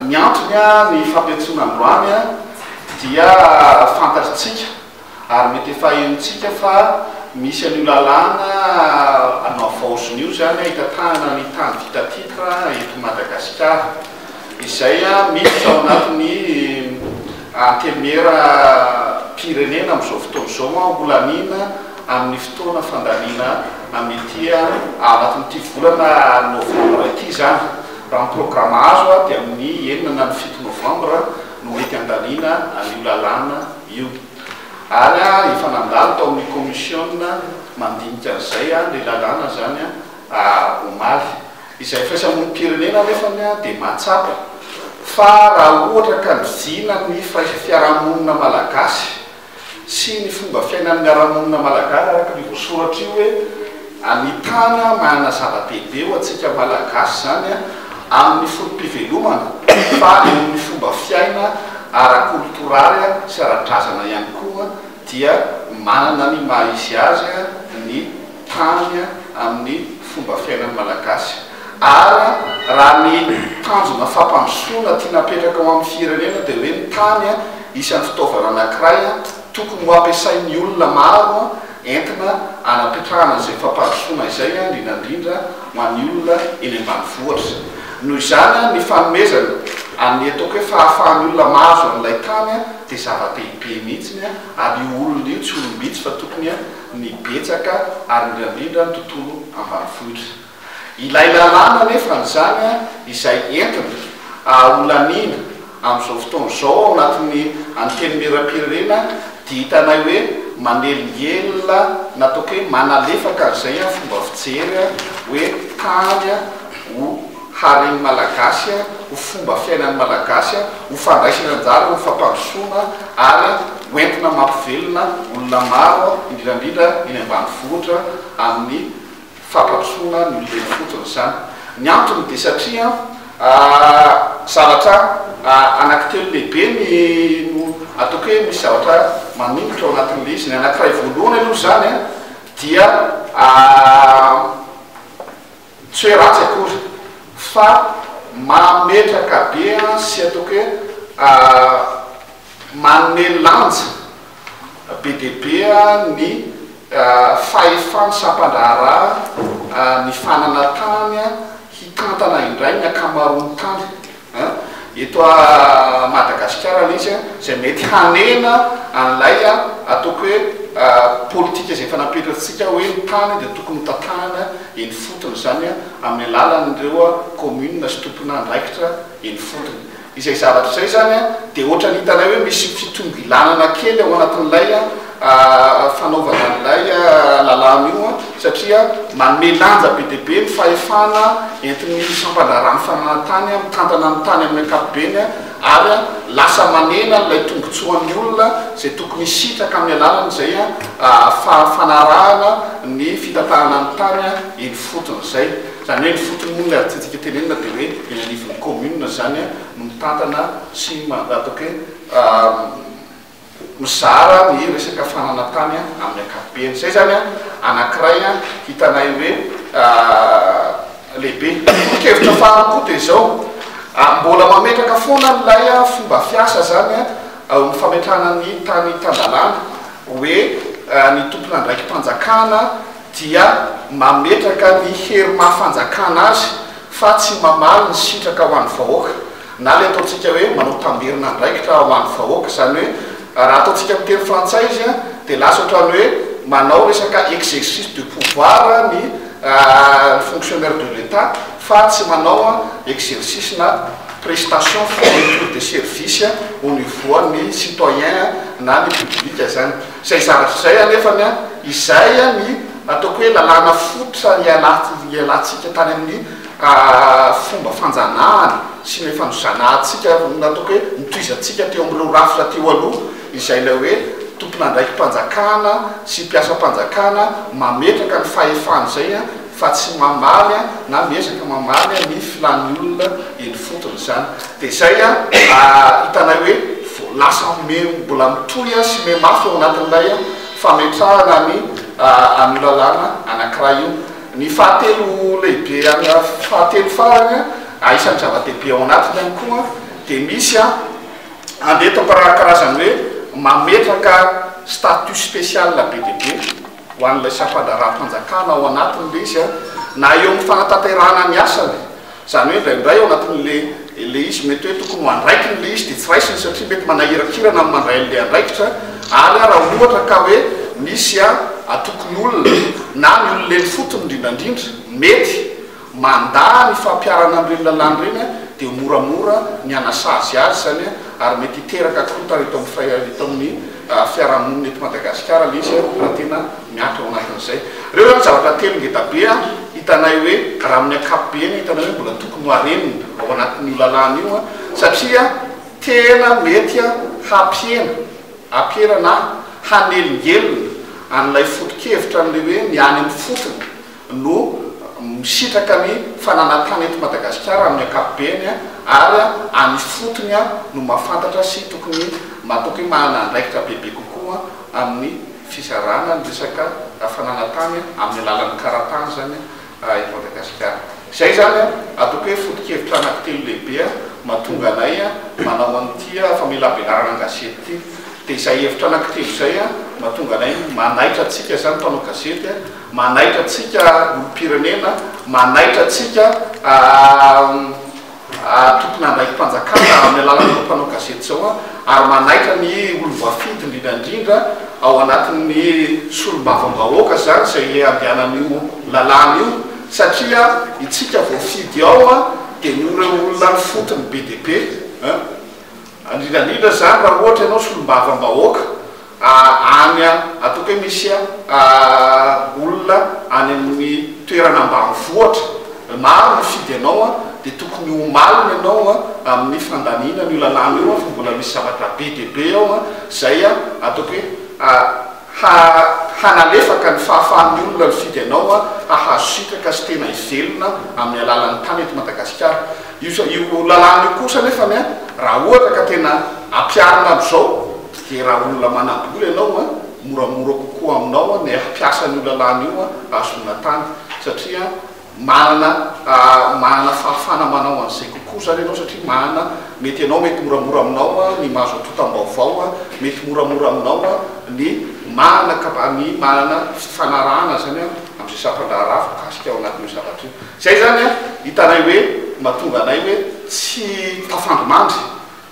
Ny antony, ny fampiantsoana androany dia fantatr'tsika ary mety efa henontsika fa misy an'io lalàna navaozina io izany hitatahana ny tany vita titre eto Madagasikara izay miditra ao anatin'ny antenimieram-pirenena amin'izao fotoana izao ho laniana amin'ny fotoana fandaniana amin'ity ao anatin'ity volana novambra ity izany. Raha ny programa azo dia amin'ny enina na ny fito novambra no mety handaniana an'io lalàna io. Ary efa nandalo tao amin'ny kaomisiona mandinika an'izay ilay lalàna izany omaly. Izay firaisamonim-pirenena anefa dia mahatsapa fa raha ohatra ka nizina ny firaisafiarahamonina malagasy sy ny fomba fiainan'ny miara-monina Malagasy araka an'io voasoratra io hoe Ny tany manana zava-dehibe ho antsika Malagasy izany amin'ny foto-pivelomana fa eo amin'ny fomba fiaina ara-kolotoraly sy ara-drazana ihany koa dia manana ny maha izy azy ny tany amin'ny fomba fiainan'ny Malagasy ary raha ny tanjona fampandrosoana tiana apetraka ho amin'ny firenena dia hoe ny tany Isan'ny fitaovana anankiray tokony ho ampiasain'ny olona maro entina hanapetrahana izay fampandrosoana izay, indrindra indrindra ho an'ny olona eny ambanivohitra. Noho izany, ny fanomezana an'ny ataoko hoe fahafahan'ny olona mahazo an'ilay tany dia zava-dehibe mihitsy ary io olona io tsy olom-bitsy fa tokony ny betsaka ary indrindra indrindra ny tontolo ambanivohitra. Ilay lalàna anefa an'izany izay entina ahaolaniana amin'izao fotoana izao ao anatin'ny Antenimierampirenena dia hitanay hoe manelingelina na ataoko hoe manalefaka an'izay fomba fijery hoe tany ho haren'ny Malagasy, ho fomba fiainan'ny Malagasy, ho fandraisana anjara amin'ny fampandrosoana ary ho entina mampivelona olona maro indrindra indrindra eny ambanivohitra amin'ny fampandrosoana no ilaina fotsiny izany. Ny antony dia satria zavatra anankitelo lehibe no ataoko hoe misy zavatra maningotra ao anatin'ilay izy. Ny anankiray voalohany aloha izany dia tsy hoe ratsy akory fa mametraka be sy ataoko hoe manome lanja be dia be ny fahefan'ny sampan-draharaha mifanana tany hitantana indray ny ankamaroan'ny tany eto Madagasikara mihitsy izay mety hanena an'ilay ataoko hoe politika izay efa napetratsika hoe ny tany dia tokony hotantanana eny ifotony, izany amin'ny alalan'ireo kaominina sy tomponandraikitra eny ifotony. Izay zavatra izay izany dia ohatran'ny hitanay hoe misy fitongilanana kely ao anatin'ilay fanaovana an'ilay lalàna io satria manome lanja be dia be ny fahefana entin'ny sampan-draharahan'ny fananantany mitantana ny tany amin'ny ankapobeny ary lasa manena ilay tombontsoan'ny olona izay tokony hisitraka amin'ny alalan'izay fanarahana ny fitantanana ny tany eny ifotony izay. Izany hoe ny fotony moa ny adintsika tenenina dia hoe eny anivon'ny commune izany no mitantana sy atao hoe mizara ny resaka fanana tany amin'ny ankapobeny. Izay izany anankiray hitanay hoe lehibe. Tolo-kevitra faharoa koa dia izao, mbola mametraka foana ilay fomba fiasa izany eo amin'ny fametrahana ny tany tan-dalàna hoe ny tompon'andraiki-panjakana dia mametraka ny hery maha fanjakana azy fa tsy mamaly ny sitraka ho an'ny vahoaka na ilay ataontsika hoe manao tambirina andraikitra ho an'ny vahoaka, izany hoe raha ataontsika amin'ny teny frantsay izy dia lasa ohatran'ny hoe manao resaka exercice de pouvoir ny fonctionnaire de l'Etat fa tsy manao exercice na prestation fourniture de service au niveau an'ny citoyen na ny public izany. Izay zara f'izay anefany an, izay ny ataoko hoe lalàna fototra nialantsika tany amin'ny fomba fanjanahana sy ny efa nozanahantsika, ataoko hoe nitohizantsika teo amin'ireo rafitra teo aloha, izay ilay hoe tompon'andraiki-panjakana sy mpiasam-panjakana mametraka ny fahefany izay an, fa tsy mamaly an na miezaka mamaly an ny filàn'ny olona eny fotony izany dia izay an hitanay hoe vo lasa me mbola mitohy an sy me mafy ao anatin'ilay an fametrahana ny an io lalàna anankiray io ny fahatelo lehibe an fahatelo farany an aisan'ny zava-dehibe ao anatiny ihany koa an dia misy an andeto karazany hoe mametraka statut spécial be dia be ho an'ilay sampan-draharaham-panjakana ao anatiny ilay izy na eo amin'ny fanatanterahana ny asany, izany hoe indraindray ao anatin'ilay ilay izy mety hoe tokony ho andraikiny ilay izy dia tsy raisiny satria mety manahirakirana ny mandray an'ilay andraikitra ary raha ohatra ka hoe misy atokon'olona na ny olona eny fotony indrindrandrindra mety Mandà ny fampiharana an'ireny lalàna ireny an, dia moramora ny hanasazy azy izany an, ary mety hiteraka korontana eto amin'ny fai, eto amin'ny fiarahamonina eto Madagasikara ilay izy an, raha tena miankina ao anatin'izay. Ireo izany zavatra telo ngeda be an, hitanay hoe, raha amin'ny ankapobeny, hitanay hoe mbola tokony hoharenina ao anatin'io lalàna io an, satria tena mety an hampihena, hampihena na hanelingelina an'ilay foto-kevitra an'ilay hoe ny any amin'ny fotony no misitraka ny fananantany eto Madagasikara amin'ny ankapobeny ary any ifotony no mahafantatra sy tokony matoky hoe manana andraikitra bebe kokoa amin'ny fizarana ny resaka fananantany amin'ny alalan'ny karatany izany eto Madagasikara. Izay izany ataoko hoe foto-kevitra anankitelo lehibe mahatonga anay manao an'ity famelabelarana an-gazety ity. Dia izay hevitra anankitelo izay mahatonga anay manaitra antsika izany mpanao gazety. Manaitra antsika olom-pirenena, manaitra antsika tomponandraiki-panjakana amin'ny alalan'ireo mpanao gazety izao ary manaitra ny olom-boafidy indrindra indrindra ao anatin'ny solombavambahoaka izany izay andehanan'io lalàna io satria itsika voafidy ao dia noho ireo olona ifotony be dia be. Indrindra indrindra izany raha ohatra ianao solombavambahoaka any ataoko hoe misy olona any amin'ny toerana ambanivohitra maro mifidy anao dia tokony ho malina ianao amin'ny fandaniana an'io lalàna io fa mbola misy zavatra be dia be ao izay ataoko hoe ha hanalefaka ny fahafahan'ny olona nifidy anao hahazo sitraka sy tena hivelona amin'ny alalan'ny tany eto Madagasikara. Io io lalàna io kosa anefany a, raha ohatra ka tena ampiharina amin'izao dia raha olona manam-bola ianao a, moramora kokoa aminao ny hampiasa an'io lalàna io hahazoana tany satria Manana manana fahafana manao an'izay kokoa izany ianao satria manana mety ianao mety moramora aminao ny mahazo antontam-baovao, mety moramora aminao ny manana kapa ny manana fifanarahana izany amin'izay sampan-draharaha voakasika ao anatin'io zavatra io. Izay izany hitanay hoe mahatonga anay hoe tsy tafandrimandry.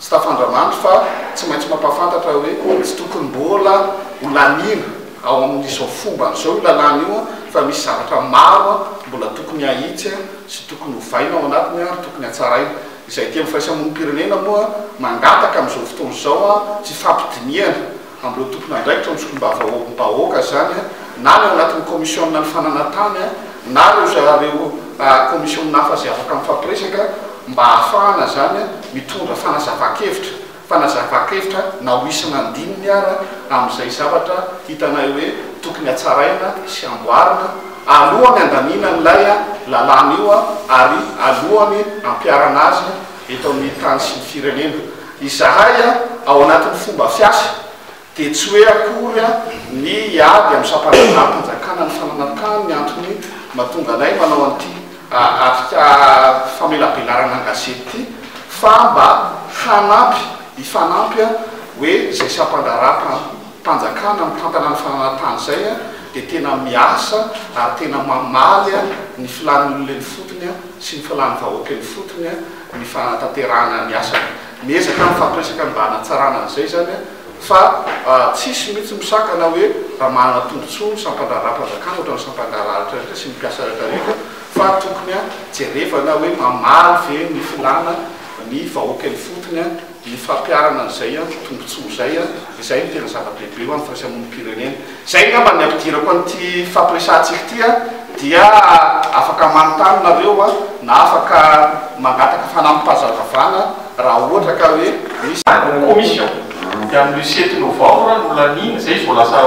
Tsy tafandranandro fa tsy maintsy mampahafantatra hoe tsy tokony mbola ho laniana ao amin'izao fombany izao io lalàna io fa misy zavatra maro mbola tokony hahitsy sy tokony hovaina ao anatiny ary tokony hatsaraina. Izay tia ny firaisamonim-pirenena moa mangataka amin'izao fotoana izao tsy fampidinihana Amin'ireo tompon'andraikitra amin'ny solombavambahoaka izany na ny ao anatin'ny kaomisiona ny fananantany na ireo zareo kaomisiona hafa izay afaka mifampiresaka mba hahafahana izany mitondra fanazavan-kevitra fanazavan-kevitra na ho isana andininy ara amin'izay zavatra hitanay hoe tokony hatsaraina sy hamboarina alohan'ny handaniana an'ilay lalàna io ary alohan'ny hampiharana azy eto amin'ny tany sy ny firenena. Izahay ao anatin'ny fomba fiasa dia tsy hoe akory ny hiady amin'ny sampandraharaham-panjakana ny fananantany ny antony mahatonga anay manao an'ity atrika famelabelarana an-gazety ity fa mba hanampy, hifanampy hoe izay sampandraharaham-panjakana mitantana ny fananantany izay dia tena miasa ary tena mamaly ny filàn'ny olona eny ifotony. sy ny filan'ny-vahoaka eny fotony ny fanatanterahana ny asany. Miezaka mifampiresaka ny mba hanatsarana an'izay izany fa tsisy mihitsy misakana hoe raha manana tombotsoa ny sampan-draharaham-panjakana ohatran'ny sampan-draharahatra rehetra sy ny mpiasa rehetra rehetra fa tokony jerevana hoe mamaly ve ny filana ny vahoaka eny fotony Ny fampiharana an'izay an, tombontsoa izay an, izay no tena zava-dehibe ho an'ny firaisamonim-pirenena. Izay angamba ny ampidirako an'ity fampiresahantsika ity an, dia afaka manontany nareo an, na afaka mangataka fanampim-pahazavavana raha ohatra ka hoe misy. Any amin'ny commission, dia amin'io sept novembre no laniana, izay izy vao lasa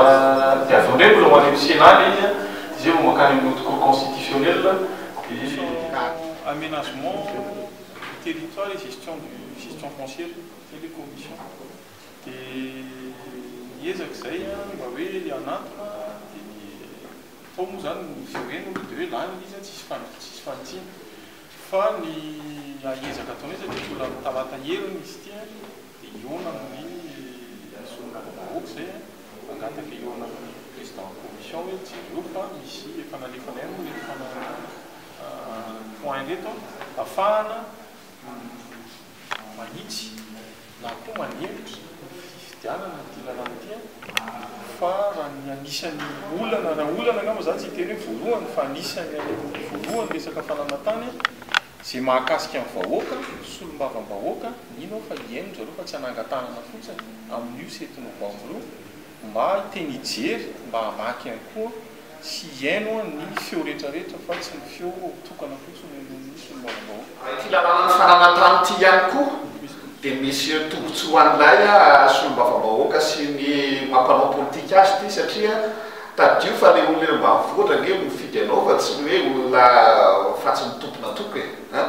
diavin'ireo, mbola ho any amin'ny Sénat ilay izy an, dia izay vao mankany amin'ny haute cour constitutionnelle, dia. Aménagement. ny territoire et gestion du gestion foncière zay le commission de miezaka izay mba hoe hanantona de ny atao moa zany izay hoe no de hoe lany le izy tsisy fandri tsisy fanitsiana fa ny ahiezaka ataonay satria mbola talata heriny izy ity an de hihaona amin'ny solombavambahoaka izay an angaha de efa hihaona amin'ny président commission hoe jereo fa misy efa nalefanay any ny fananana Mipoainga eto afahana manitsy na koa manevitra ny fifidianana ity lalàna ity fa raha ny anisan'ny olana raha olana angamba za tsy hiteny hoe voalohany fa anisan'ny aloha voalohany resaka fananan-tany izay mahakasika ny vahoaka solombavambahoaka mino aho fa hihaino zareo fa tsy hanangan-tanana fotsiny amin'io seti-novambra io mba hiteny hijery mba hamaky ihany koa sy hihaino ny feo rehetrarehetra fa tsy ny feo tokana fotsiny no ny solombavambahoaka. Raha ity lalàna ny fananantany ity ihany koa dia misy tombotsoa ho an'ilay solombavambahoaka sy ny maha mpanao politika azy ity satria tadidio fa ilay olona eny ambanivohitra ange no mifidy anao fa tsy ny hoe olona fatsy mitompina tompona e!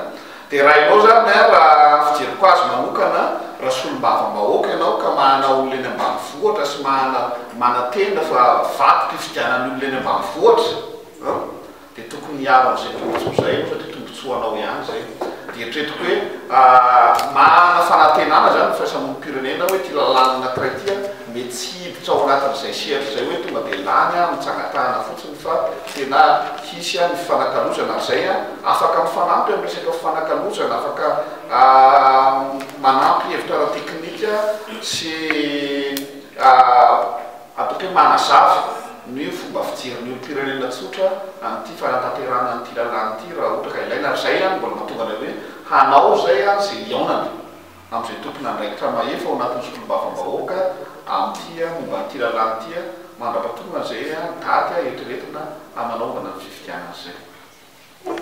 Derainao zany an, raha fijeriko azy manokana, raha solombavambahoaka ianao ka mahana olona eny ambanivohitra sy mahana manantena fa vato pifidianan'ny olona eny ambanivohitra an, dia tokony hiaro an'izay tombotsoa izay ianao satria tombotsoa anao ihany izay. Eritreretiko hoe mahana fanantenana izany ny firaisamonim-pirenena hoe ity lalàna anankiray ity an, mety tsy hiditra ao anatin'izay sehatry izay hoe tonga dia lany an, mitsangatahana fotsiny. fa tena hisy any fifanakalozana ary izay afaka mifanampy amin'ny resaka fifanakalozana, afaka manampy hevitra ara-teknika sy ataoko hoe manazava ny fomba fijerin'ny olom-pirenena tsotra an'ity fanatanterahana an'ity lalàna ity raha ohatra ka ilaina ary izay mbola mahatonga anay hoe hanao izay izay hihaonana. amin'izay tompon'andraikitra mahefa ao anatin'ny solombavambahoaka amin'ity momba an'ity lalàna ity mandrapatorana izay daty eritreretina hananaovana ny fifidianana izay.